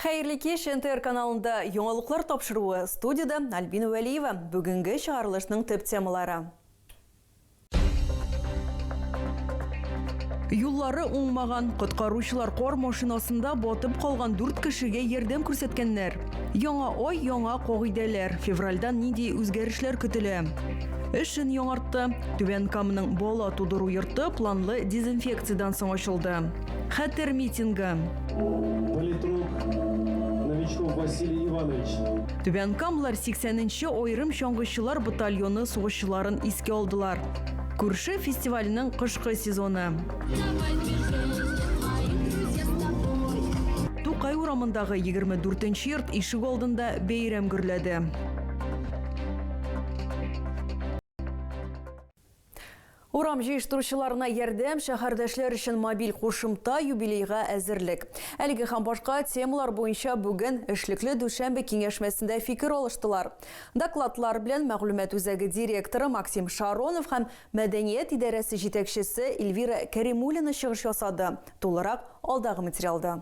Хәерле кич, НТР каналында яңалыклар тапшыруы, студиядә Альбина Вәлиева. Бүгенге чыгарылышның төп темалары. Юллары уңмаган, коткаручылар кар машинасында батып калган дүрт кешегә ярдәм күрсәткәннәр. Яңа ай, яңа кагыйдәләр. Февральдан нинди үзгәрешләр көтелә? Эшен яңартты. Түбән Каманың бала тудыру йорты планлы дезинфекциядән соң ачылды. Хәтер митингы. Политрук Новичков Василий Иванович. Түбән Камлар 80 нче аерым чаңгычылар батальоны сугышчыларын искә алдылар. Күрше фестиваленең кышкы сезоны. Тукай урамындагы 24 нче йорт ишек алдында бәйрәм гөрләде. Урам җыештыручыларына ярдәм, шәһәрдәшләр өчен мобиль кушымта, юбилейга әзерлек. Әлеге һәм башка темалар буенча бүген эшлекле дүшәмбе киңәшмәсендә фикер алыштылар. Докладлар белән мәгълүмат үзәге директоры Максим Шаронов һәм мәдәният идарәсе җитәкчесе Эльвира Кәримуллина чыгыш ясады. Тулырак алдагы материалда.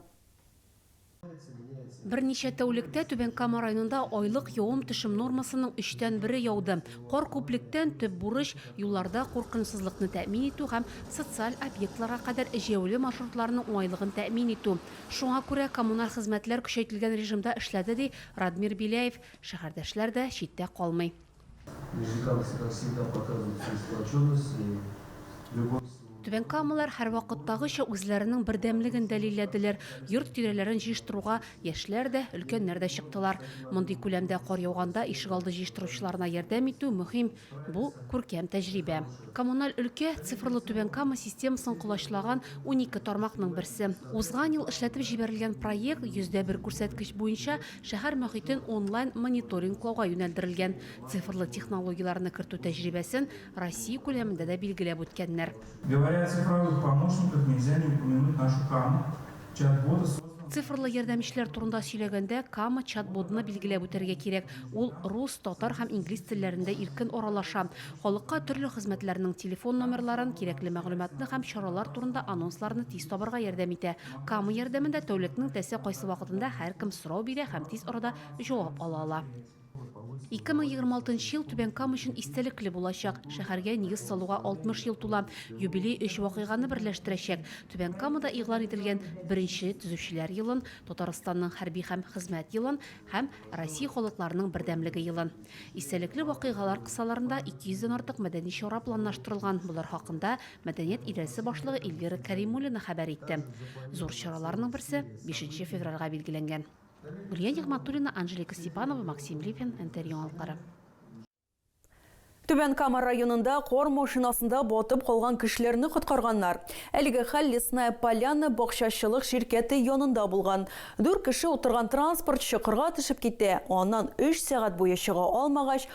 Берничә тәүлектә Түбән Кама районында айлык явым-төшем нормасының өчтән бере яуды. Кар күплектән төп бурыч, юлларда куркынычсызлыкны тәэмин итү һәм социаль объектларга кадәр җәяүле маршрутларның уңайлыгын тәэмин итү. Шуңа күрә коммуналь хезмәтләр көчәйтелгән режимда эшләде, ди Радмир Беляев. Шәһәрдәшләр дә читтә калмый. Түбәнкамалылар һәрвакыттагыча үзләренең бердәмлеген дәлилләделәр. Йорт тирәләрен җыештыруга яшьләр дә, өлкәннәр дә чыктылар. Мондый күләмдә кар яуганда ишегалды җыештыручыларына ярдәм итү мөһим, бу, күркәм тәҗрибә. Коммуналь өлкә, цифрлы Түбән Кама системасын колачлаган унике тармакның берсе. Узган ел эшләтеп җибәрелгән проект йөз дә бер күрсәткеч буенча Шәһәр мохитен онлайн мониторинглауга юнәлдерелгән цифрлы технологияләрне кертү тәҗрибәсен Россия күләмендә дә билгеләп үткәннәр. Цифрлы ярдәмчеләр турында сөйләгәндә, Кама чат-бодны билгеләп үтәргә кирәк. Ул рус, татар һәм инглиз телләрендә иркен аралаша. Халыкка төрле хезмәтләрнең телефон номерларын, кирәкле мәгълүматны һәм чаралар турында анонсларны тиз табарга ярдәм итә, Кама ярдәмендә тәүлекнең тәсе кайсы вакытында һәркем сорау бирә һәм тиз арада җавап ала ала. 2026 ел Түбән Кама өчен истәлекле булачак. Шәһәргә нигез салуга 60 ел тула. Юбилей өч вакыйганы берләштерәчәк. Түбән Камада игълан ителгән беренче Төзүчеләр елын, Татарстанның хәрби һәм хезмәт елын һәм Россия халыкларының бердәмлеге елын. Истәлекле вакыйгалар кысаларында 200 дән артык мәдәни чара планлаштырылган, болар хакында Мәдәният идарәсе башлыгы Эльвира Кәримуллина хәбәр итте. Зур чараларның берсе 5 февральгә билгеләнгән. Гүлия Нигматуллина, Анжелика Степанова, Максим Липин, НТР яңалыклары. Түбән Кама районында кар машинасында батып калган кешеләрне коткарганнар. Әлеге хәл Лесная Поляна бакчачылык ширкәте янында булган. Дүрт кеше утырган транспорт чокырга төшеп китә, аннан өч сәгать буе чыга алмагач,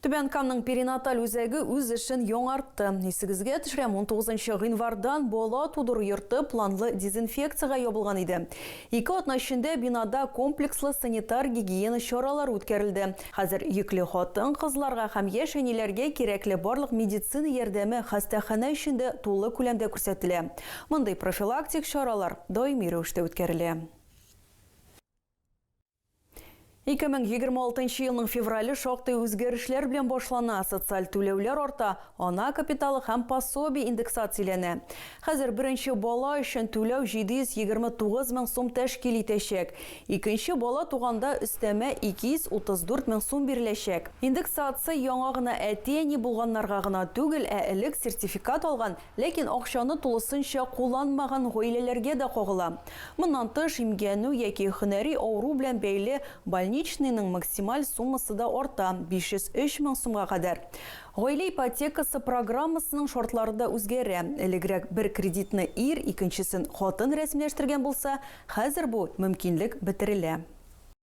Түбән Камның перинаталь үзәге үз эшен яңартты. Исегезгә төшерәм, 19 гыйнвардан бала тудыру йорты планлы дезинфекциягә ябылган иде. Ике атна эчендә бинада комплекслы санитар-гигиена чаралары үткәрелде. Хәзер йөкле хатын-кызларга һәм яшь әниләргә кирәкле барлык медицина ярдәме хастаханә эчендә тулы күләмдә күрсәтелә. Мондый профилактик чаралар даими рәвештә үткәрелә. 2026 нчы елның феврале шактый үзгәрешләр белән башлана. Социаль түләүләр арта, ана капиталы һәм пособие индексацияләнә. Хәзер беренче бала өчен түләү 729 мең сум тәшкил итәчәк. Икенче бала туганда өстәмә 234 мең сум биреләчәк. Индексация яңа гына әти-әни булганнарга гына түгел, ә элек сертификат алган Ләкин акчаны тулысынча кулланмаган гаиләләргә дә кагыла. Моннан тыш, имгәнү яки һөнәри авыру белән бәйле больничныйның максималь суммасы да арта, 503 мең сумга кадәр. Гаилә ипотекасы программасының шартлары да үзгәрә. Элегрәк бер кредитны ир, икенчесен хатын рәсмиләштергән булса, хәзер бу мөмкинлек бетерелә.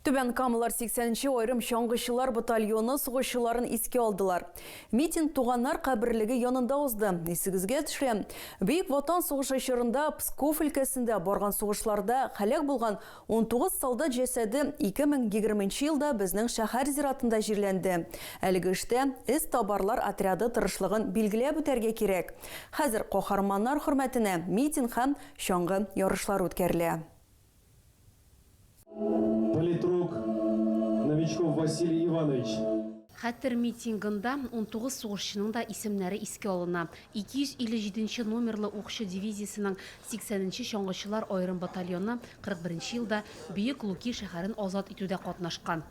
Түбән Камалар 80 нче аерым чаңгычылар батальоны сугышчыларын искә алдылар. Митинг туганнар каберлеге янында узды. Исегезгә төшә, Бөек Ватан сугышы чорында Псков өлкәсендә барган сугышларда һәлак булган 19 солдат җәсәде 2020 нче елда безнең шәһәр зиратында җирләнде. Әлеге эштә эз табарлар отряды тырышлыгын билгеләп үтәргә кирәк. Хәзер каһарманнар хөрмәтенә митинг һәм чаңгы ярышлары үткәрелә. Политрук Новичков Василий Иванович. Хәтер митингында унтугыз сугышчының да исемнәре искә алына. 257 нче номерлы укчы дивизиясенең 80 нче чаңгычылар аерым батальоны 41 нче елда Бөек Луки шәһәрен азат итүдә катнашкан.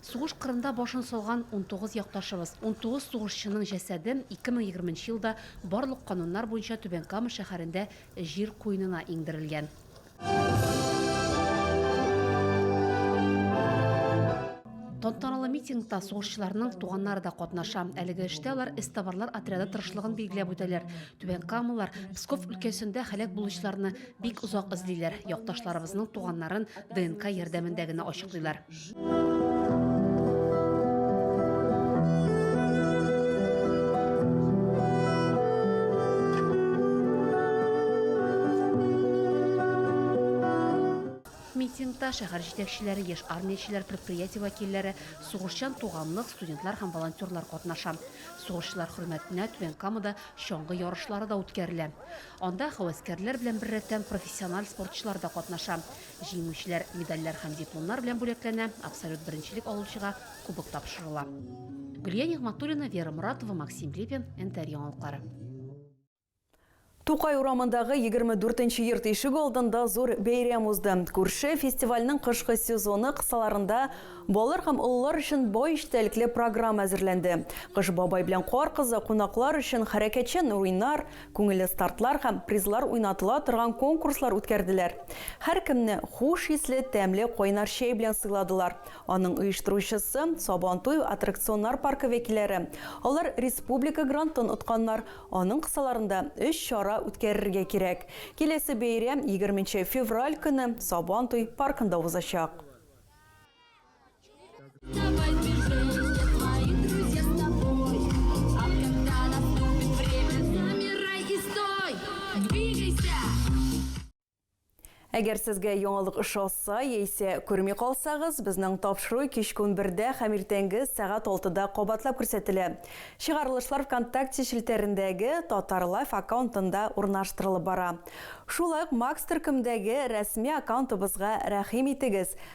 Сугыш кырында башын салган унтугыз якташыбыз, унтугыз сугышчының җәсәде 2020 нче елда барлык кануннар буенча Түбән Кама шәһәрендә җир куенына иңдерелгән. Тантаналы митингта сугышчыларның туганнары да катнаша. Әлеге эштә алар эстабарлар отряды тырышлыгын билгеләп үтәләр. Түбән Камалар Псков өлкәсендә һәлак булучыларны бик озак эзлиләр. Якташларыбызның туганнарын ДНК ярдәмендә генә ачыклыйлар. Митингта шәһәр җитәкчеләре, яшь армиячеләр, предприятие вәкилләре, сугышчан туганлык, студентлар һәм волонтерлар катнаша. Сугышчылар хөрмәтенә Түбән Камада чаңгы ярышлары да үткәрелә. Анда һәвәскәрләр белән беррәттән профессиональ спортчылар да катнаша. Җиңүчеләр медальләр һәм дипломнар белән бүләкләнә, абсолют беренчелек алучыга кубок тапшырыла. Гөлия Нигъматуллина, Вера Моратова, Максим Репин, НТР яңалыклары. Тукай урамындагы 24 нче йорт ишеге алдында зур бәйрәм узды. Күрше фестивальнең кышкы сезоны кысаларында балалар һәм олылар өчен бай эчтәлекле программа әзерләнде. Кыш бабай белән Кар кызы кунаклар өчен хәрәкәтчән уйнар, Күңелле стартлар һәм призлар уйнатыла торган конкурслар үткәрделәр. Һәркемне хуш исле, тәмле кайнар чәй белән сыйладылар. Аның оештыручысы, Сабантуй аттракционнар паркы вәкилләре. Алар республика грантын отканнар. Аның кысаларында өч чара үткәрергә кирәк. Киләсе бәйрәм егерменче февраль көне Сабантуй паркында узачак. Әгәр сезгә яңалык ошаса, яисә күрми калсагыз, безнең тапшыру кич көн бердә һәм иртәнге сәгать 6-да кабатлап күрсәтелә. Чыгарылышлар ВКонтакте челтәрендәге Татарлайф аккаунтында урнаштырылып бара. Шулай ук Макс төркемдәге рәсми аккаунтыбызга рәхим итегез.